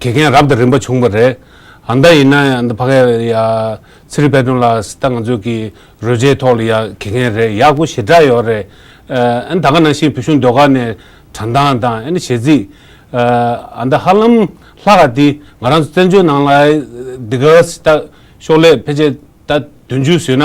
དགེ་རྒན་རབ་དང་རིམ་པ་བྱུང་བ་རེད། ཨ་མདའ་ཡིན་ན་ཡང་ཕ་ག་ཡ། ཚེ་རིང་དཔལ་སྒྲོན་ལགས་སི་ཏ་ང་ཚོས་ཀྱི་རོལ་ཆའི་ཐོག་ལ་ཡང་དགེ་རྒན་རེད་ཡག་པོ་ཞེ་དྲག་ཡོད་རེད། ཨན་ད་ག་ནང་བཞིན་བུ་ཆུང་ཟློས་གར་ནས་དྲ་མདང་དང་ཨན་གཞས་ཚིག། ཨ་མདའ་ཧ་ལམ་ལྷ་ག་འདི་ང་རང་ཚོ་བཙན་བྱོལ་ནང་ལ་ཨི་འདི་ག་སི་ཏ་ཤོག་ལས་ཕལ་ཆེར་ད་དུས་མཇུག་བཟོས་ན།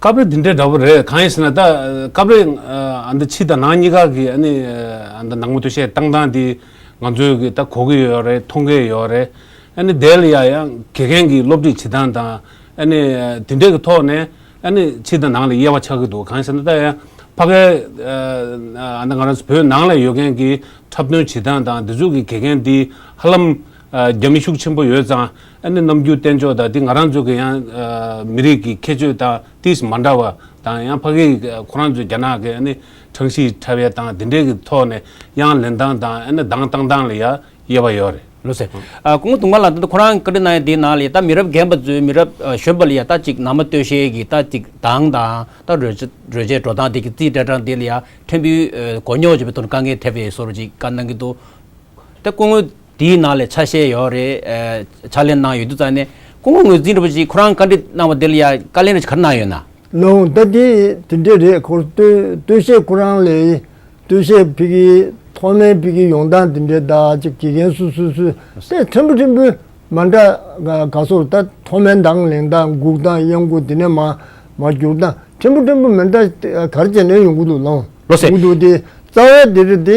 སྐབས་རེ་འདི་འདྲའི་འདྲ་པོ་རེད་གང་ཡིན་ཟེར་ན་ད་སྐབས་རེ་ཨ་མདོ་ཕྱི་དང་ནང་གཉིས་ཀ་གི་ཨ་ནི་ཨ་མདོ་ནང་མོ་ཏོ་ཤས་བཏང་སྟངས་དེ་ང་ཚོས་གི་ད་གོ་གི་ཡོད་རེད་མཐོང་གི་ཡོད་རེད། ཨ་ནི་དེ་ལ་ཡང་ཡང་དགེ་རྒན་གྱི་སློབ་ཁྲིད་བྱེད་སྟངས་དང་ཨ་ནི་དེ་འདྲའི་གི་ཐོག་ནས་ཨ་ནི་ཕྱི་དང་ནང་ལ་དབྱེ་བ་ཆགས་ཀྱི་འདུག་གང་ཡིན་ཟེར་ན་ད་ཡང་ཕ་གའི་ཨ་མདོ་ང་རང་ཚོ་བོད་ནང་ལ་ཡོད་མཁན་གྱི་འཁྲབ་སྟོན་བྱེད་སྟངས་དང་དེ་ཚོ་གི་དགེ་རྒན་དེ་ཧ་ལམ་རྒྱ་མི་ཤུགས་ཆེན་པོ་ཡོད་ཙང་ཨ་ནེ་ནམ་རྒྱུན་བསྟན་ཕྱོགས་དང་དེ་ང་རང་ཚོ་གི་ཡང་མི་རིགས་ཀྱི་ཁྱད་ཆོས་དང་ཏིས་མ་འདྲ་བ་དང་ཡང་ཕ་གིས་ཁོ་རང་ཚོའི་རྒྱ་ནག་གི་ཨ་ནེ་ཁྲང་ཤིས་ཁྲ་བའི་དང་དེ་འདྲའི་གི་ཐོག་ནས་ཡང་ལེན་སྟངས་དང་ཨ་ནེ་གདངས་བཏང་སྟངས་ལ་ཡང་དབྱེ་བ་ཡོད་རེད། ལོ་སེ། ཀོང་ཏུང་མ་ལ་ད་ལྟ་ཁོ་རང་བཀའ་ཁྲི་གནང་ཡ་དེའི་ནང་ལ་ཡ་ད་མི་རབས་རྒན་པ་ཚོའི་མི་རབས་གཞོན་པ་ལ་ཡ་ད་ཅིག་ནང་མ་སྟོད་ཤལ་གྱི་ད་ཅིག་གདངས་དང་ད་རོལ་ཆ་རོལ་ཆས་འགྲོ་སྟངས་དེ་གི་རྩིས་སྤྲད་སྟངས་དེ་ལ་ཡ་ཕྲན་བུའི་མགོ་རྙོག་བྱེད་པའི་དོན་དཀའ་ངལ་ཐེབས་པའི་སོར་ཅིག་དཀའ་སྣང་གི་འདུག་ད་ཀོང་དེའི་ནང་ལས་ཆ་ཤས་ཡོད་རེད། ཕྱག་ལེན་གནང་ཡོད་དུས་རྩ་ནས་སྐུ་ངོ་ངོས་འཛིན་རིན་པོ་ཆེས་ཁོ་རང་བཀའ་འདྲི་གནང་བ་དེ་ལ་ཡང་བཀའ་ལན་རེ་གར་གནང་ཡོད་ན། ལོའང་ལྟ་དེ་དེ་འདྲས་རེད་ཁོ་ལྟོས་བཤད་ཁོ་རང་ལས་ལྟོས་བཤད་ཕི་གི་ཐོག་མའི་ཕི་གི་ཡོང་སྟངས་དེ་འདྲས་ད་ཅིག་དགེ་རྒན་སུ་སུ་སུ་ལྟས་ཕྲན་བུ་ཕྲན་བུ་མ་འདྲ་ག་སོར་ལྟ་ཐོག་མའི་མདང་ལེན་སྟངས་སྒུག་སྟངས་གཡང་སྒུག་དེ་ནས་མ་མ་བསྒྱུར་སྟངས་ཕྲན་བུ་ཕྲན་བུ་མི་འདྲ་གར་བྱས་ནས་ཡོང་གི་འདུག་ལོ་སེ། འདུག་དེ་རྩ་བའི་དེ་རེད་དེ་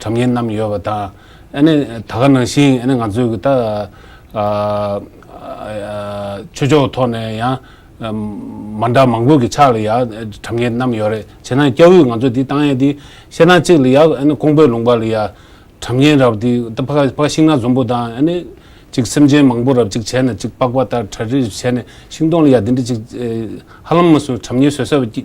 དྲ་མཉེན་རྣམས་ཡོད་པ་དང་ཨནི་ད་ག་ནང་བཞིན་ཨནི་ང་ཚོས་གི་ད་ཆོས་ཕྱོགས་ཐོག་ནས་ཡང་མ་འདྲ་མང་པོ་གི་ཆགས་ལ་ཡང་དྲ་མཉེན་རྣམས་ཡོད་རེད་བྱས་ན་སྐྱ་བོས་ང་ཚོས་དེ་བཏང་ཡས་དེ་བཤད་ན་གཅིག་ལ་ཡང་ཨནི་ཀོང་པོས་ལུང་པ་ལ་ཡང་དྲ་མཉེན་རབ་དེ་ད་ཕ་ཕ་ཤིང་ནག་འཛོམས་པོ་དང་ཨནི་གཅིག་སེམས་ཅན་མང་པོ་རབ་གཅིག་བྱས་ན་གཅིག་པགས་པ་ལྟར་གྲ་རིར་བྱས་ནས་ཤིང་སྡོང་ལ་ཡང་དེ་འདྲ་གཅིག་ཧ་ལམ་མ་སོན་དྲ་མཉེན་བཟོས་ས་བ་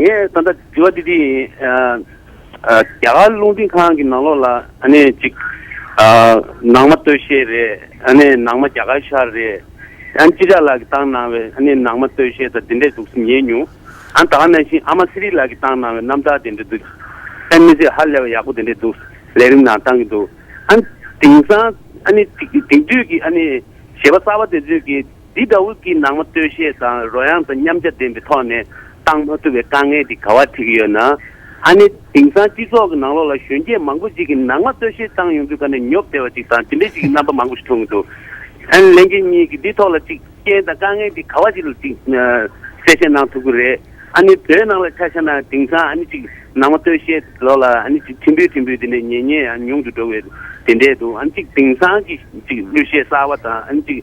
ངས་ད་ལྟ་དྲི་བ་འདི་འདི་ཡིན། རྒྱ་གར་རླུང་འཕྲིན་ཁང་གི་ནང་ལོགས་ལ་ཅིག། ནང་མ་སྟོད་གཞས་རེད། ནང་མ་རྒྱ་གར་ཤར་རེད། ཨ་ཅི་ར་ལགས་ཀྱིས་བཏང་གནང་བའི་ནང་མ་སྟོད་གཞས་དང་འདི་འདྲས་འདུག་སེམས་ཉན་མྱོང། ད་ག་ནང་བཞིན་ཨ་མ་སི་རི་ལགས་ཀྱིས་བཏང་གནང་བའི་རྣམ་ཐར་དེ་འདྲས་འདུག་ཨ་མི་ཚེ་ཧ་ལས་པ་ཡག་པོ་དེ་འདྲས་འདུག་ལས་རིམ་ནང་བཏང་གི་འདུག་ཨ། དེང་སང། དེང་དུས་ཀྱི་གཞས་པ་གསར་པ་དེ་ཚོས་ཀྱི། འདི་དག་དབུས་ཀྱི་ནང་མ་སྟོད་གཞས་དང་རོལ་དབྱངས་དང་མཉམ་བྱ་ལྡན་པའི་ཐོག་ནས་གཏང་མ་ཐུབ་པའི་དཀའ་ངལ་དེ་ག་བ་འཕྲད་ཀྱི་ཡོད་ན། ཨ་ནེ། དེང་སང་སྤྱི་ཚོགས་ཀྱི་ནང་ལོགས་ལ་གཞོན་སྐྱེས་མང་པོ་ཅིག་གིས་ནང་མ་སྟོད་གཞས་གཏང་ཡོང་དུས་ཁ་ནས་ཉོབ་བསྡད་པ་ཅིག་དང་དེ་འདྲའི་ཅིག་གི་རྣམ་པ་མང་པོ་ཞིག་མཐོང་གི་འདུག་ཨ་ནེ་ལེན་རྒྱལ་གཉིས་ཀྱིས་འདི་ཐོག་ལ་ཅིག་རྐྱེན་དང་དཀའ་ངལ་དེ་ག་བ་ཅིག་ལ་ཅིག་གསལ་བཤད་གནང་ཐུབ་ཀྱི་རེད། ཨ་ནེ་བོད་ནང་ལ་ཆ་བཞག་ན་དེང་སང་ཨ་ནེ་ཅིག་ནང་མ་སྟོད་གཞས་ལོགས་ལ་ཨ་ནེ་ཅིག་ཁྲི་འབུད་ཁྲི་འབུད་དེ་འདྲའི་ཉེ་ཉེ་ཡང་ཉུང་དུ་འགྲོ་བའི་དེ་འདྲས་འདུག་ཨ་ནེ་ཅིག་དེང་སང་གི་ཅིག་གླུ་གཞས་གསར་བ་དང་ཨ་ནེ་ཅིག་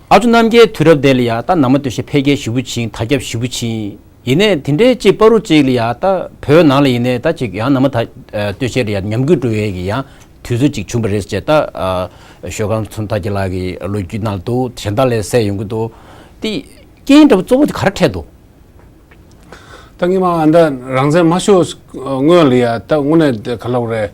ཨ་ཚོ་རྣམ་རྒྱལ་དུས་རབས་འདས་ལ་ཡ་ད་ནང་མ་སྟོད་ཤི་འཕེལ་རྒྱས་ཞི་བུ་བྱིན་ད་སྐྱབས་ཞི་བུ་བྱིན། ཡིན་ནས་དེ་འདྲའི་གཅིག་པ་རུ་གཅིག་ལ་ཡ་ད་བོད་ནང་ལ་ཡིན་ནས་ད་གཅིག་ཡང་ནང་མ་ད་སྟོད་ཤི་ལ་ཡ་ཉམས་རྒུད་འགྲོ་ཡས་གི་ཡང་དུས་ཚོད་ཅིག་བྱུང་བ་རེད་ཅེས་ད་ཞོལ་གངས་ཚོན་ད་ཀྱི་ལགས་ཀྱི་ལོ་རྒྱུས་ནང་དུ་གཞན་དག་ལས་གསལ་ཡོང་གི་འདུག་དེ་རྐྱེན་འདྲ་བོ་གཙོ་བོ་དེ་ག་རེ་འཕྲད་འདུག། ད་ངེད་མ་འདི་རང་བཙན་མ་ཤོར་སྔོན་ལ་ཡ་ད་དངོས་གནས་ག་ལོག་རེད།